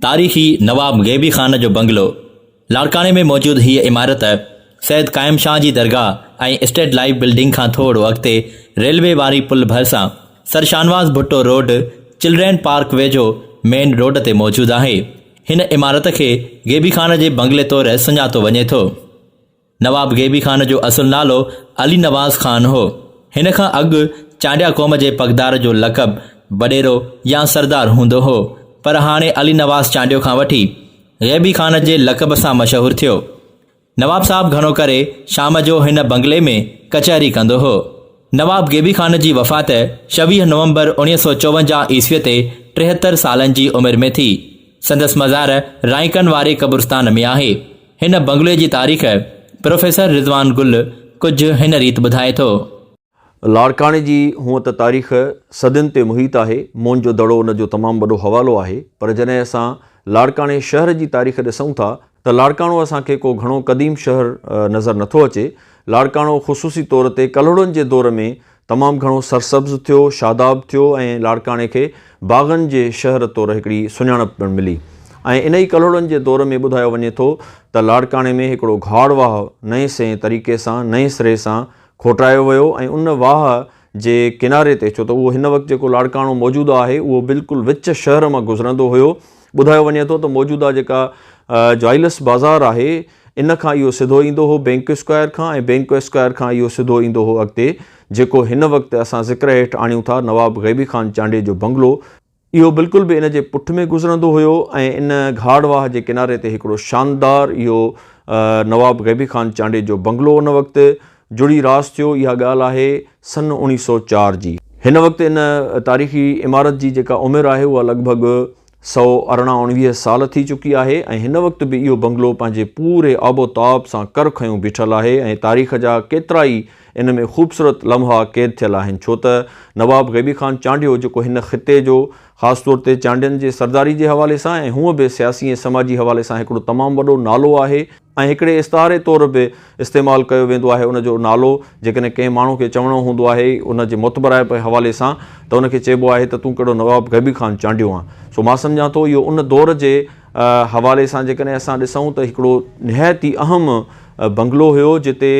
تاريخي نواب غيبي خان جو بنگلو، لاڙڪاڻي ۾ موجود هيء عمارت سيد قائم شاهه جي درگاهه ۽ اسٽيٽ لائيف بلڊنگ کان ٿورڙو اڳتي ريلوي واري پل ڀرسان Sir Shahnawaz Bhutto road children park ويجهو مين روڊ تي موجود آهي. هن عمارت کي غيبي خان جي بنگلي طور سڃاتو وڃي ٿو. نواب غيبي خان جو اصل نالو علي نواز خان هو. هن کان اڳ چانڊيا قوم جي پڳدار جو لقب وڏيرو يا سردار هوندو هو، پر هاڻي علي نواز چانڊيو کان وٺي غيبي خان جي لقب سان مشهور ٿيو. نواب صاحب گهڻو ڪري شام جو هن بنگلي ۾ ڪچهري ڪندو هو. نواب غيبي خان جي وفات ڇويهه نومبر اوڻيهه سؤ چوونجاهه عيسويء تي ٽيهتر سالن جي عمر ۾ ٿي. سندس مزار رائيڪن واري قبرستان ۾ آهي. هن بنگلي جي تاريخ پروفيسر رضوان گل ڪجهه هن ريت ٻڌائي ٿو. لاڙڪاڻي جي هونء ته تاريخ صدين تي محيط آهي، موئنجو دڙو ان جو تمام وڏو حوالو آهي، پر جڏهن اسان لاڙڪاڻي شهر جي تاريخ ڏسون ٿا ته لاڙڪاڻو اسان کي ڪو گهڻو قديم شهر نظر نه ٿو اچي. لاڙڪاڻو خصوصي طور تي ڪلهوڙن جي دور ۾ تمام گهڻو سرسبز ٿيو، شاداب ٿيو ۽ لاڙڪاڻي کي باغن جي شهر طور هڪڙي سڃاڻپ پڻ ملي ۽ انهي ڪلهوڙن جي دور ۾ ٻڌايو وڃي ٿو ته لاڙڪاڻي ۾ هڪڙو گهاڙ واهه نئين سئين طريقي سان نئين سري سان کوٽرايو ويو ۽ ان واهه جي ڪناري تي ڇو ته اهو هن وقت جيڪو لاڙڪاڻو موجود آهي اهو بلڪل وچ شهر مان گذرندو هيو ٻڌايو وڃي ٿو ته موجوده جيڪا جائلس بازار آهي ان کان اهو سڌو ايندو هو بينڪ اسڪوائر کان ۽ بينڪ اسڪوائر کان اهو سڌو ايندو هو اڳتي جيڪو هن وقت اسان ذڪر هيٺ آڻيون ٿا نواب غيبي خان چانڊيي جو بنگلو اهو بلڪل به ان جي پٺ ۾ گذرندو هيو ۽ ان گهاڙ واهه جي ڪناري تي هڪڙو شاندار اهو نواب غيبي خان چانڊيي جو بنگلو ان وقت جڙي راس ٿيو اها ڳالهه آهي سن اوڻيهه سؤ چار جي. هن وقت ان تاريخي عمارت جي جيڪا عمر آهي اها لڳ ڀڳ سؤ ارڙهن اوڻويهه سال ٿي چڪي آهي ۽ هن وقت به اهو بنگلو پنهنجي پوري آب و تاب سان ڪر کنيو بيٺل آهي ۽ تاريخ جا ڪيترا ئي ان ۾ خوبصورت لمحا قيد ٿيل آهن ڇو ته نواب غيبي خان چانڊيو جيڪو هن خطي جو خاص طور تي چانڊين جي سرداري جي حوالي سان ۽ هونء به سياسي ۽ سماجي حوالي سان هڪڙو تمام وڏو نالو آهي ۽ هڪڙي استعاري طور به استعمال ڪيو ويندو آهي ان جو نالو جيڪڏهن ڪنهن ماڻهو کي چوڻو هوندو آهي ان جي معتبرائپ جي حوالي سان ته ان کي چئبو آهي ته تون ڪهڙو نواب غيبي خان چانڊيو آن سو مان سمجهان ٿو اهو ان دور جي حوالي سان جيڪڏهن اسان ڏسون ته هڪڙو نهايت ئي اهم بنگلو هيو جتي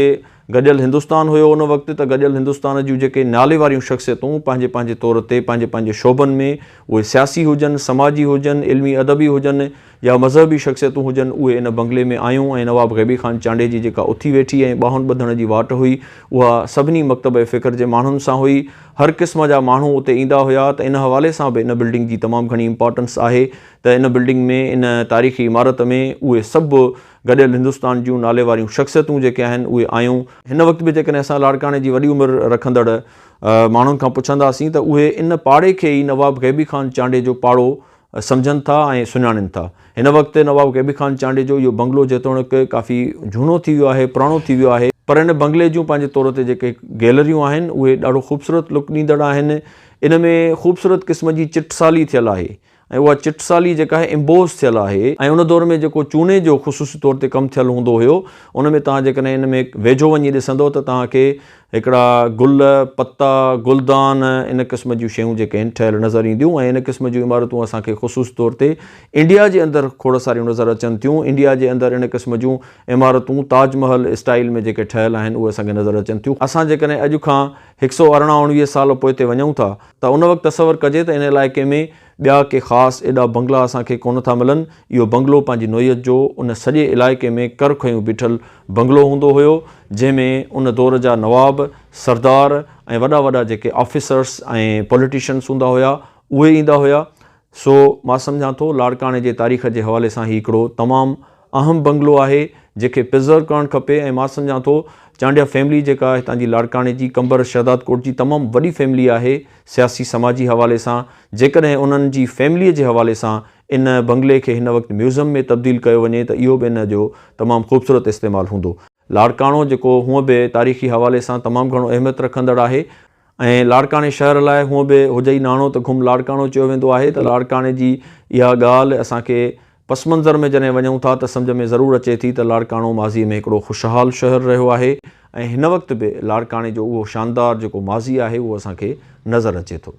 گڏيل هندستان هيو ان وقت ته گڏيل هندستان جون جيڪي نالي واريون شخصيتون پنهنجي پنهنجي طور تي پنهنجي پنهنجي شعبن ۾ اهي سياسي هجن سماجي هجن علمي ادبي هجن يا مذهبي شخصيتون هجن اهي ان بنگلي ۾ آيون ۽ نواب غيبي خان چانڊي جي جيڪا اٿي ويٺي ۽ ٻانهن ٻڌڻ جي واٽ هئي اها سڀني مڪتبه فڪر جي ماڻهن سان هئي هر قسم جا ماڻهو اتي ايندا هيا ته ان حوالي سان به ان بلڊنگ جي تمام گهڻي امپارٽنس آهي ته ان بلڊنگ ۾ ان تاريخي عمارت ۾ اهي سڀ گڏيل هندستان جون ناليواريون شخصيتون جيڪي آهن اهي آيون. هن وقت به جيڪڏهن اسان لاڙڪاڻي جي وڏي عمر رکندڙ ماڻهن کان پڇنداسين ته اهي ان پاڙي کي ئي نواب غيبي خان چانڊيي جو پاڙو سمجهن ٿا ۽ سڃاڻين ٿا. هن وقت نواب غيبي خان چانڊيي جو اهو بنگلو جيتوڻيڪ ڪافي جهونو ٿي ويو آهي، پراڻو ٿي ويو آهي، پر ان بنگلي جون پنهنجي طور تي جيڪي گيلريون آهن اهي ڏاڍو خوبصورت لڪ ڏيندڙ آهن، ان ۾ خوبصورت قسم جي چٽسالي ٿيل آهي، ۽ اها چٽ سالي جيڪا آهي امبوس ٿيل آهي ۽ ان دور ۾ جيڪو چوني جو خصوصي طور تي ڪم ٿيل هوندو هيو ان ۾ توهان جيڪڏهن ان ۾ ويجهو وڃي ڏسندو ته توهان کي هڪڙا گل، پتا، گلدان ان قسم جون شيون جيڪي آهن ٺهيل نظر اينديون ۽ ان قسم جون عمارتون اسان کي خصوصي طور تي انڊيا جي اندر کوڙ ساريون نظر اچن ٿيون انڊيا جي اندر ان قسم جون عمارتون تاج محل اسٽائيل ۾ جيڪي ٺهيل آهن اهي اسان کي نظر اچن ٿيون اسان جيڪڏهن اڄ کان هڪ سؤ ارڙهن اوڻويهه سال پوئتي وڃون ٿا ته ان وقت تصور ڪجي ته ان علائقي ۾ ٻيا ڪي خاص ايڏا بنگلا اسان کي ڪونه ٿا ملن. اهو بنگلو پنهنجي نوعيت جو ان سڄي علائقي ۾ ڪر کنيون بيٺل بنگلو هوندو هيو، جنهن ۾ ان دور جا نواب، سردار ۽ وڏا وڏا جيڪي آفيسرس ۽ پوليٽيشنس هوندا هيا، اهي ايندا هيا. سو مان سمجهان ٿو لاڙڪاڻي جي تاريخ جي حوالي سان هي هڪڙو تمام اهم بنگلو آهي جيڪي پرزرو ڪرڻ کپي ۽ مان سمجهان ٿو چانڊيا فيملي جيڪا هتان جي لاڙڪاڻي جي قمبر شهدادڪوٽ جي تمام وڏي فيملي آهي سياسي سماجي حوالي سان جيڪڏهن انهن جي فيملي جي حوالي سان ان بنگلي کي هن وقت ميوزم ۾ تبديل ڪيو وڃي ته اهو به ان جو تمام خوبصورت استعمال هوندو لاڙڪاڻو جيڪو هونء به تاريخي حوالي سان تمام گهڻو اهميت رکندڙ آهي ۽ لاڙڪاڻي شهر لاء هونء به هجئي ناڻو ته گهم لاڙڪاڻو چيو ويندو آهي ته لاڙڪاڻي جي اها ڳالهه اسان کي پس منظر ۾ جڏهن وڃون ٿا ته سمجهه ۾ ضرور اچي ٿي ته لاڙڪاڻو ماضيء ۾ هڪڙو خوشحال شهر رهيو آهي ۽ هن وقت به لاڙڪاڻي جو اهو شاندار جيڪو ماضي آهي اهو اسان کي نظر اچي ٿو.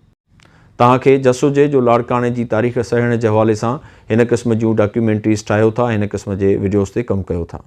توهان کي جس هجي جو لاڙڪاڻي جي تاريخ سهيڙڻ جي حوالي سان هن قسم جون ڊاڪيومينٽريز ٺاهيو ٿا هن قسم جي وڊيوز تي ڪم ڪيو ٿا.